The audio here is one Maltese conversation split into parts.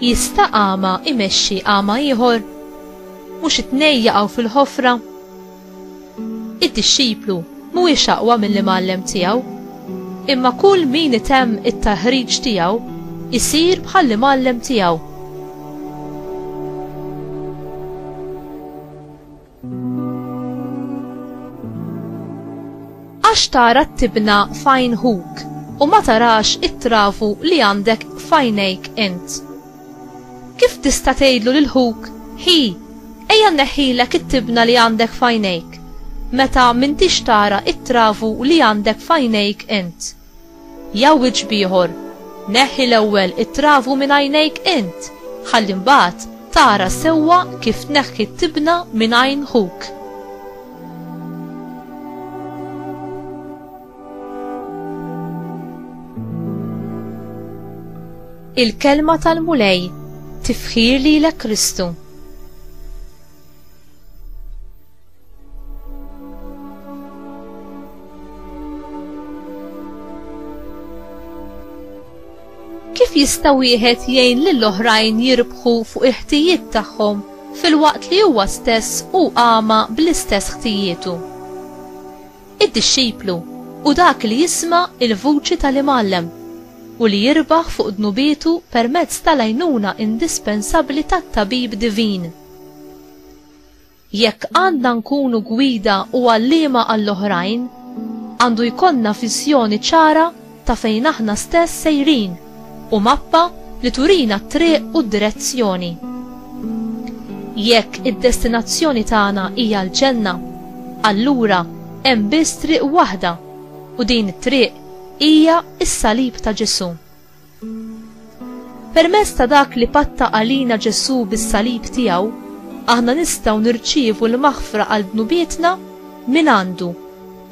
Jista' agħma imexxi agħma ieħor? Mhux it-tnejn jaqgħu fil-ħofra? Id-dixxiplu mhuwiex aqwa mill-imgħallem tiegħu, imma kull min itemm it-taħriġ tiegħu jsir bħall-imgħallem tiegħu. Għax tara t-tibna f'għajn ħuk, u ma tarax it-travu li għandek f'għajnejk int? Kif tista' tgħidlu lil ħuk, 'Ħi, ejja nneħħilek it-tibna li għandek f'għajnejk', meta m'intix tara t-travu li għandek f'għajnejk int? Jgħawwiġ b'ieħor, Neħħi l-ewwel it-travu minn għajnejk int, ħalli mbagħad tara sewwa kif tneħħi t-tibna minn għajn ħuk. Il-kelma tal-Mulej tifħir lilek Kristu. Kif jista' wieħed jgħin lil oħrajn jirbħu fuq il-ħtijiet tagħhom filwaqt li huwa stess hu għama bl-istess ħtijietu? Id-dixxiplu u dak li jisma' il-vuċi tal-imgħallem u li jirbaħ fuq dnubietu permezz tal-għajnuna indispensabbli tat-tabib divin. Jekk għandna nkunu gwida u għalliema għall-oħrajn, għandu jkollna viżjoni ċara ta' fejn aħna stess sejrin u mappa li turina t-triq u d-direzzjoni. Jekk id-destinazzjoni tagħna hija l-ġenna, allura hemm biss triq waħda u din it-triq hija s-salib ta' Ġesù. Permezz ta' dak li patta għalina Ġesù bis-salib tiegħu, aħna nistgħu nirċievu l-maħfra għal dnubietna mingħandu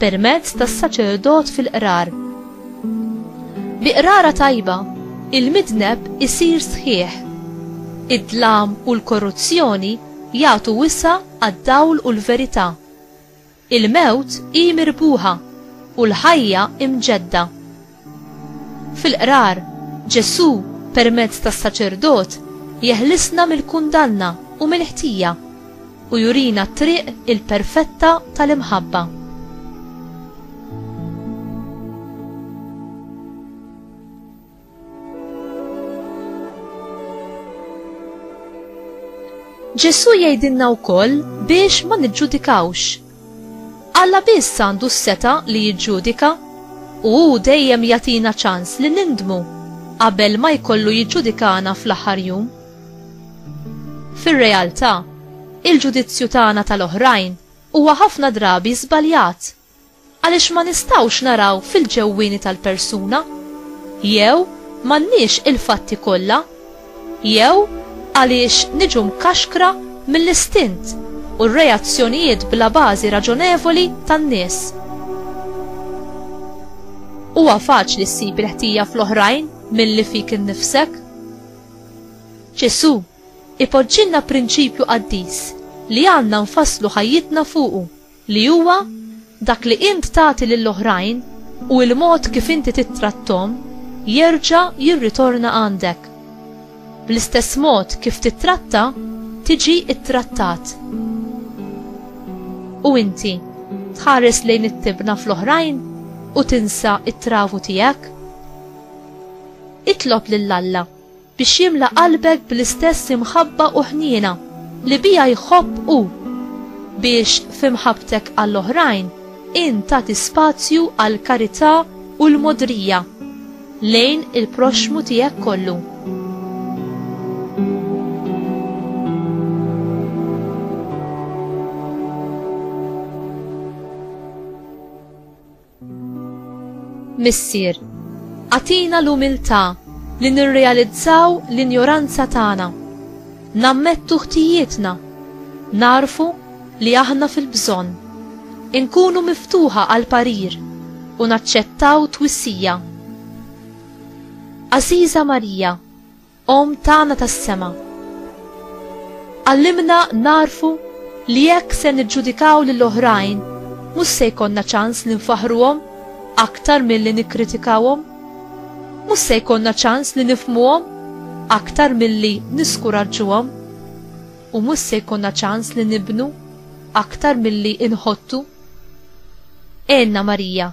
permezz tas-saċerdot fil-qrar. Bi qrara tajba, il-midneb isir sħiħ. Id-dlam u l-korruzzjoni jagħtu wisa' għad-dawl u l-verità. Il-mewt hi mirbuħa u l-ħajja imġedda. Fil-Qrar, Ġesù, permezz tas-saċerdot, jeħlisna mill-kundanna u mill-ħtija u jurina t-triq il-perfetta tal-imħabba. Ġesù jgħidilna wkoll biex ma niġġudikawx. Alla biss għandu s-seta li jiġġudika u hu dejjem jagħtina ċans li nindmu qabel ma jkollu jiġġudikana fl-aħħar jum. Fir-realtà, il-ġudizzju tagħna tal-oħrajn huwa ħafna drabi żbaljat Għaliex ma nistgħux naraw fil-ġewwieni tal-persuna? Jew m'għandniex il-fatti kollha? Jew għaliex niġu mkaxkra mill-istint u r-reazzjonijiet bla bażi raġonevoli tan-nies? Huwa faċli ssib il-ħtija fl-oħrajn milli fik innifsek. Ġesù ipoġġilna prinċipju qaddis li għandna nfasslu ħajjitna fuqu. li huwa dak li int tagħti lil oħrajn u l-mod kif inti tittratthom jerġa' jirritorna għandek. Bl-istess mod kif tittratta, tiġi ttrattat. U inti, tħares lejn it-tibna fl-oħrajn u tinsa t-travu tiegħek? Itlob lil Alla. biex jimla qalbek bl-istess imħabba u ħniena li biha jħobb hu, biex f'imħabbtek għall-oħrajn int tagħti spazju għall-karità u l-mogħdrija lejn il-proxxmu tiegħek kollu. Missier, agħtina l-umiltà li nirrealizzaw l-injoranza tagħna, nammettu ħtijietna, nagħrfu li aħna fil-bżonn, inkunu miftuħa għall-parir u naċċettaw twissija. Għażiża Marija, Omm tagħna tas-sema, għallimna nagħrfu li jekk se niġġudikaw lil oħrajn mhux se jkollna ċans li nfaħħruhom aktar milli nikkritikawhom. Mhux se jkollna ċans li nifhmuhom aktar milli niskuraġġuhom. U mhux se jkollna ċans li nibnu aktar milli inħottu. Għenna Marija